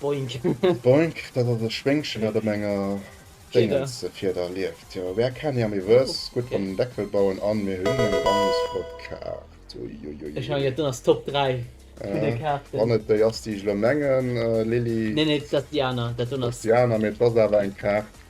Boink. Boink, dat ass e Schwéngchen, dat op enger Déngelsefierder lieft. Jo, where can i am Iwwes? Gutt beim Deckel bauen an mir hunn eng ganz flott Kaart. Uiuiui. Ech mengen, dat ass Top 3 vun de Kaarten. Wann et déi ass, déi ech elo mengen, Lili. Nee, nee, dat ass déi aner. Dat do ass. Dat ass déi aner, mee et ass awer eng Kaart.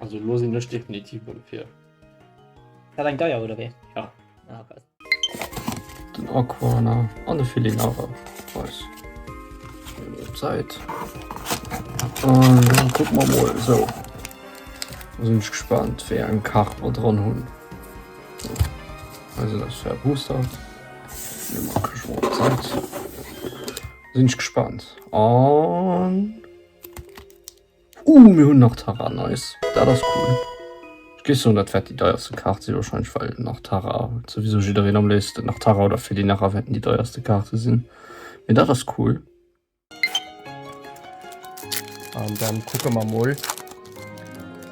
Also lo sinn ech definitiv mol fir. Dat eng deier oder wéi? Ja. Ah, okay. Den Aquaner an de Feeling awer Preis. Zeit. Und dann gucken wir mal so. Da bin ich gespannt, wer einen Kach mal dran haben. So. Also das ist der Booster. Dann mache ich mal Zeit. Da bin ich gespannt. Und Ooh, mir hunn nach Tara, nice. Dat ass cool. Ech géif soen, dat wäert déi deierste Kaart sinn, warscheinlech well nach Tara souwisou jiddereen am léifsten, nach Tara oder Felinara wäerten déi deierste Kaarte sinn. Mee dat ass cool. An dann kucke mer mol,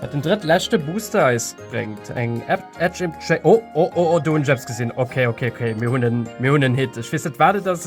wat den drëttleschte Booster eis bréngt. Eng Edge Imp, oh, oh, oh, do hunn ech eppes gesinn. Okay, okay, okay, mir hunn en, mir hunn en Hit. Ech weess net, wat et ass.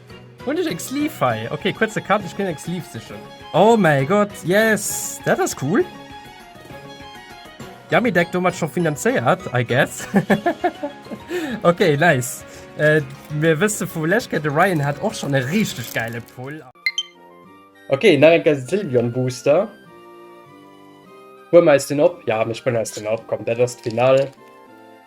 Hun ech eng Sleeve hei? Ok, kuerze Cut, ech gin eng Sleeve sichen. Oh mäi Gott, yes! Dat ass cool! Yummy Deck domat scho finanzéiert, I guess. Ok, nice. Mir wësse vu lech Kéier, de Ryan hat och schon e richteg gäile Pull. Ok, nach eng Kéier Sylvion Booster. Huelen mer eis den op? Ja, mir spëllen eis den op, komm, dat ass d'Finall.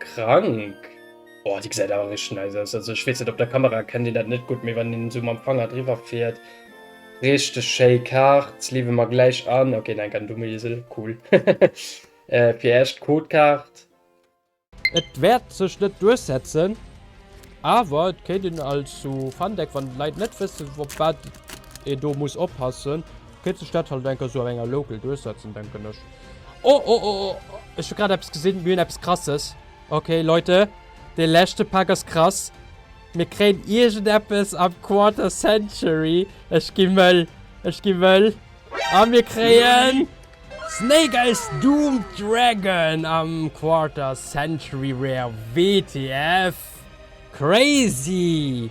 Krank! Oh, déi gesäit awer richteg nice aus. Also ech weess net, op der Kamera erkennt een dat net gutt, mee wann een esou mam Fanger driwwer fiert, richteg schéi Kaart. Leewe mer gläich an. Ok, neen, keen dumme Iesel, cool. Fir Iech d'Codekaart. Et wäert sech net duerchsetzen, awer et kéint een als sou Fundeck, wann d'Leit net wëssen, op wat ee do muss oppassen, Kéint sech dat halt enker sou an enger Local duerchsetzen, denken ech. Oh oh oh oh! Ech hu grad eppes gesinn, mir hunn eppes Krasses. Ok Leute, dee leschte Pak ass krass. Mir kréien iergendeppes am Quarter Century. Ech gi mëll, ech gi mëll. A mir kréien. Snake Eyes Doom Dragon am Quarter Century Rare WTF! Crazy!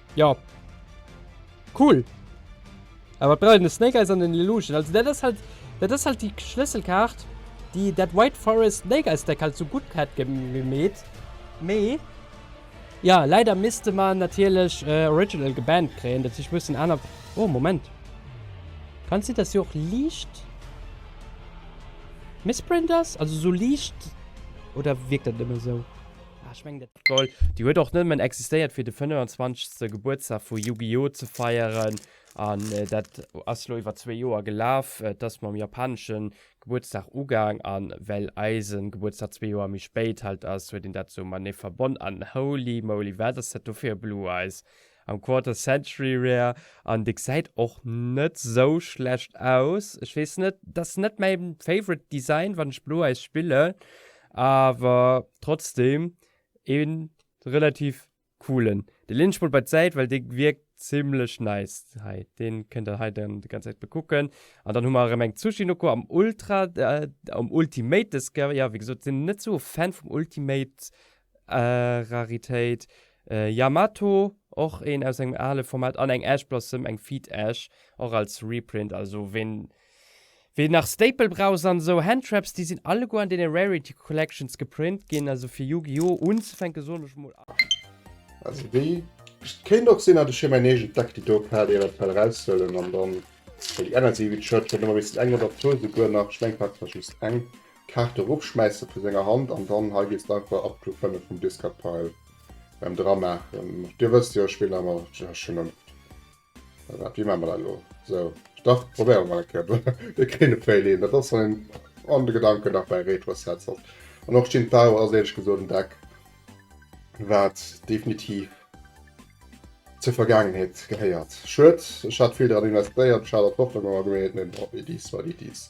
Ja. Cool. Awer brauch een de Snake Eyes an den Illusion. Also dat ass halt, dat ass halt déi Schlësselkaart, déi dat White Forest Snake Eyes Deck halt sou gutt hätt gemeet. Mee ja, leider misste mer natierlech Original gebannt kréien, dat heescht, mussen aner. Oh, Moment. Kann et sinn, dass se och liicht misprint ass? Also sou liicht, oder wierkt dat nëmme sou? Ah, ech mengen dat. D'Gol, déi huet och nëmmen existéiert fir de 25. Gebuertsdag vu Yu-Gi-Oh! Ze feieren, an dat ass elo iwwer zwee Joer gelaf. Et ass mam japanesche Gebuertsdag ugaang, an well eise Gebuertsdag zwee Joer méi spéit halt ass, huet een dat sou matenee verbonn. An holy moly, wat ass dat do fir e Blue Eyes! Am Quarter Century Rear an de gesäit och net sou schlecht aus. Ech weess net, dass net mäi favorite Design wann ech Blo Eyes spillen, awer trotzdem een relativ coolen. De leen ech mol bei d'Säit well dee wierkt zimlech nice hei. Deen kënnt der hei dann déi ganz Säit bekucken. An dann hu mer erëm eng Tsuchinoko am Ultra, am Ultimate des Gear. Jo wéi gesot sinn net sou e Fan vum Ultimate Raritéit, Yamato, och een aus engem ale Format, an eng Ash Blossom, eng Feed Ash, och als Reprint. Also ween, ween nach Staple Braus an esou Handtraps, déi sinn alleguer an deene Rarity Collections geprint ginn. Also fir Yu-Gi-Oh! Unzefänken soen ech mol a. Also déi kéint och sinn, datt ech hir mäin eegent Deck déi do op hat, eventuell eraushuelen an dann, well déi aner si, wéi d'Shirt, kënnt ëmmer e bëssen eng oder zwou souguer nach, ech mengen, d'Kart war just eng, Kaarte ropschmäissen vu senger Hand an dann hei gehst einfach ab Club 5 vum Discard Pile beim dra maachen. Dir wësst jo ech spillen emmer just schon oft dat. Wéi maache mer dat elo? Sou dach probéiere mer eng Kéier de Kréin de Fail een. Dat ass wann een an de Gedanken nach bei Retro Sets ass. An och Jin Tao ass éierlech gesot en Deck wat definitiv zur Vergaangenheet gehéiert. Schued, ech hat vill dran investéiert, ech hat an d'Hoffnung emmer gemeet, mee bon, it is what it is.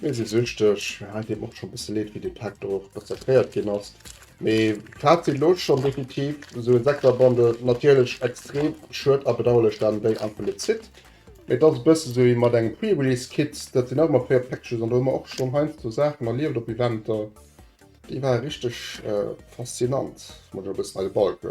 Mir si süchteg. Hei deet mer och scho bësse Leed, wéi dee Pak do rezertéiert ginn ass. Mee Fazit elo schonn, definitiv esou e Sekterbundle, natierlech extrem schued a bedauerlech dann déi an vun de Zit. Mee et ass e bësse sou wéi mat engem Pre-Release Kit, dat sinn och ëmmer fréier Packages an do hu mer och schonn heiansdo Saachen erlieft op Eventer, déi ware richteg faszinant, muss ech e bëssen hei de Balk.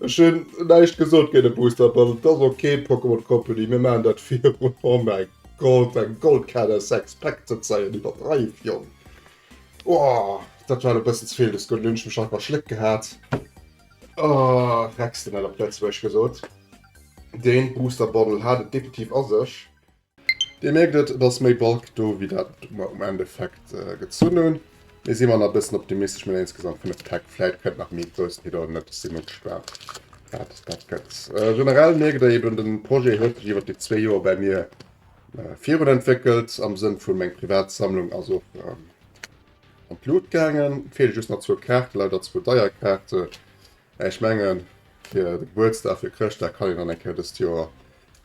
Ech hun näischt gesot géint e Boosterpass, et ass ok Pokémon Company, mir maachen dat virun oh mäi Gott eng Goldkaadder sechs Pack ze zeien, iwwerdreiw Jong oh dat war elo bessen zevill des Gudden, hunn ech mech nach verschléckt gehat oh Rexdennel op Lëtzebuergesch gesot, deen Booster Bottle hat et definitiv a sech. Dir mierkt et, et ass méi Bulk do wéi dat mer um Endeffekt gezunn hunn. Mee si mer nach e bëssen optimistesch mat insgesamt 5 Täck. Vläit kënnt nach méi groussen Hit oder net. Ech si mol gespaant wat dat gëtt. Generell mierkt der eben, de Projet huet sech iwwer déi zwee Joer bäi mir virun entwéckelt, am Sënn vu meng privat Sammlung ass och an d'Lut gaangen. Et feele just nach zwou Kaarte, leider zwou deier Kaarte Ech mengen fir de Gebuertsdag, fir Chrëschtdag kann een dann eng Kéier dëst Joer,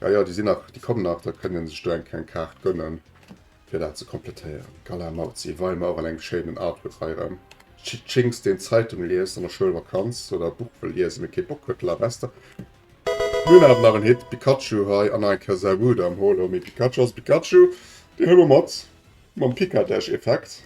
jo jo déi sinn nach, déi kommen nach, da kënnt een sech do eng kleng Kaart gönnen fir dat ze komplettéieren. Gala Mauzi Weimer an engem schéinen Artwork hei erëm. Tschinx deen Zeitung liest an der Schoulvakanz oder e Buch wëll liesen mee kee Bock huet La Bester. Mir hunn awer nach en Hit, Pikachu hei an nach eng Kéier Sou Good am Holo mee Pikachu ass e Pikachu, deen hu mer mat mam Pikadesch Effekt.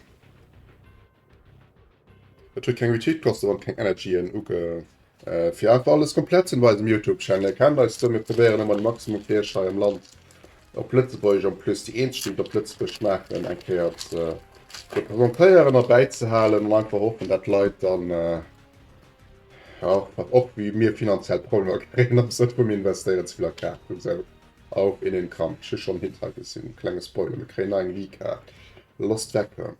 Et huet keng Retweet kosten an keng Energyen ugebraucht. Fir einfach alles komplett ze sinn op eisem Youtube Channel kennt eis do, mir probéieren ëmmer de Maximum fir iech hei am Land op Lëtzebuergesch an plus déi eenzeg déi et op Lëtzebuergesch maachen eng Kéier ze representéieren a bäizehalen an einfach hoffen dat d'Leit dann jo och wéi mir finanziell Problemer kréien am Sënn vum investéieren ze vill a Kaart oder sou. Auf in den Kampf. Ech hu schonn en Hit hei gesinn, klenge Spoiler, mir kréien nei eng Wii-Kaart, Lost Vacuum.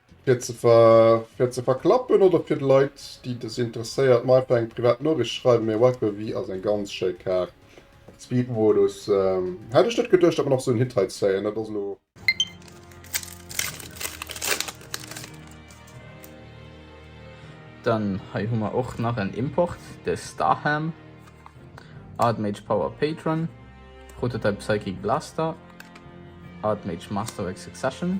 Fir ze fir ze verklappen oder fir Leit déi des interesséiert mer einfach eng privat Noricht schreiwen. Mee Wiper Wii ass eng ganz schéi Kaart. Speed Modus hätt ech net geduecht dat mer nach sou en Hit hei zéien. Dat ass lo. Dann hei hu mer och nach en Import, de Starham, Artmage Power Patron, Prototype Psychic Blaster, Artmage Master Axe Succession.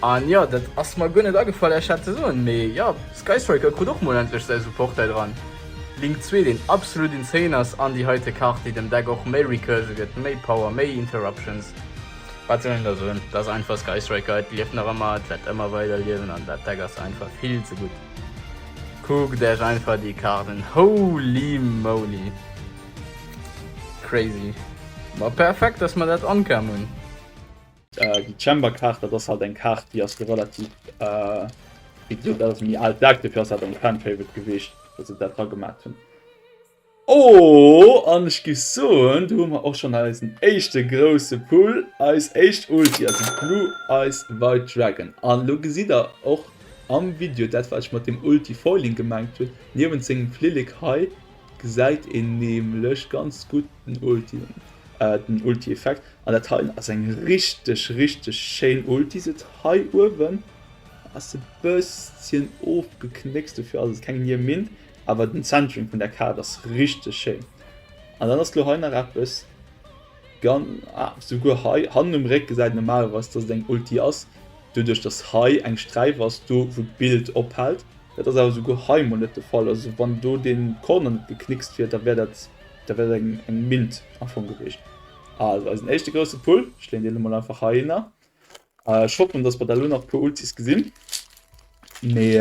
An jo, dat ass mer guer net agefall Iech dat ze soen, mee jo, Skystriker krut och mol endlech säi Support hei dran. Link 2, deen absolut insane ass, an déi heite Kart, déi dem Deck och méi Recursion gëtt, méi Power, méi Interruptions. Wat soll een da soen, et ass einfach Skystriker, et lieft nach ëmmer, et wäert ëmmer weider liewen an dat Deck ass einfach vill ze gutt. Kuckt Iech einfach déi Kart un, holy moly! Crazy! Ma perfekt, dass mer dat ankam hunn. Äh, déi Chamber-Kaart, dat ass halt eng Kaart, déi ass jo relativ, äh, wéi gesot, dat ass méi al Deck, dofir ass dat eng Fan-Favorite gewiescht, datt se dat dragemaach hunn. Oh, an ech gi soen, do hu mer och schonn eisen éischte grousse Pull, eis éischt Ulti, also Blue Eyes White Dragon. An elo gesitt der och am Video dat, wat ech mat deem Ulti Foiling gemengt hunn. Niewent sengem Flillek hei gesäit een nämlech ganz gutt Den Ulti, den Ulti Effekt an dat hei ass eng richteg richteg schéin Ulti se hei uewen ass e bësschen ofgeknéckst dofir ass et keng Nier Mint, awer den Centering vun der Kaart ass richteg schéin an dann ass lo hei nach eppes gan ah souguer hei hannen um Réck gesäit normalerweis dass et eng Ulti ass doduerch dass hei eng Sträif ass do wou d'Bild ophält. Dat ass awer souguer hei mol net de Fall, also wann do dee Corner net geknickst wier da wär dat. Dat wär eng mild Erfong gewiescht. Also eisen éischte grousse Pull. Ech leen deen emol einfach heihinner. Ech hoffen, dass mer da lo nach e puer Ultis gesinn. Mee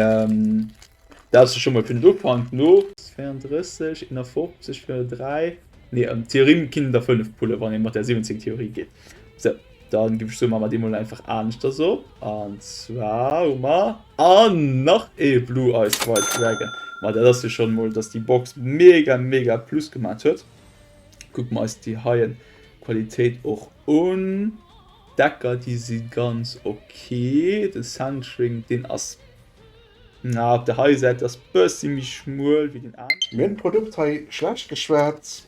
dat ass scho mol fir den Ufank no. 32, 51 fir 3. Nee, Theorie kinnt der 5 pullen, wann ee mat der 17 Theorie geet. So, dann gif ech soen, man mer déi mol einfach aaneschters op. An zwar hun mer, an nach ee Blue Eyes White Dragon. Ma dat ass jo schon mol, dass déi Box mega mega Plus gemaat huet. Kucken mer eis déi heien Qualitéit och un. Decker, déi si ganz ok. Den Centering, deen ass, na op der heien Säit ass bessi méi schmuel wéi den anen. Mir hunn d'Produkt hei schlecht geschwat,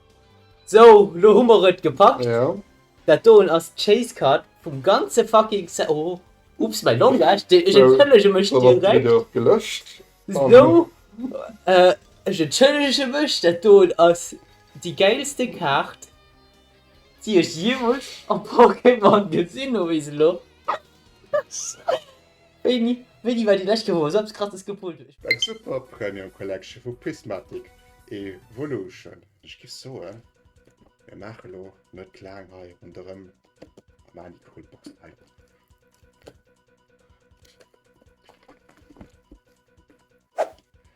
Sou, lo hu mer et gepackt. Jo. Dat doen ass d'Chase Card vum ganze fucking Set. Oh, Ups, mäi Langage, dee, ech entschëllege mech direkt. Dann ass d'Video och gelöscht. Sou, ech entschëllege mech, dat doen ass déi gäilste Kaart, déi ech jeemools am Pokémon gesinn hu bis elo. Beni, Beni war déi lescht Woch awer selbst gratis gepult huet. Eng super Premium Collection vu Prismatic Evolution. Ech géif soen, mir maache lo net laang hei ronderëm a maachen déi cool Boxen hei op.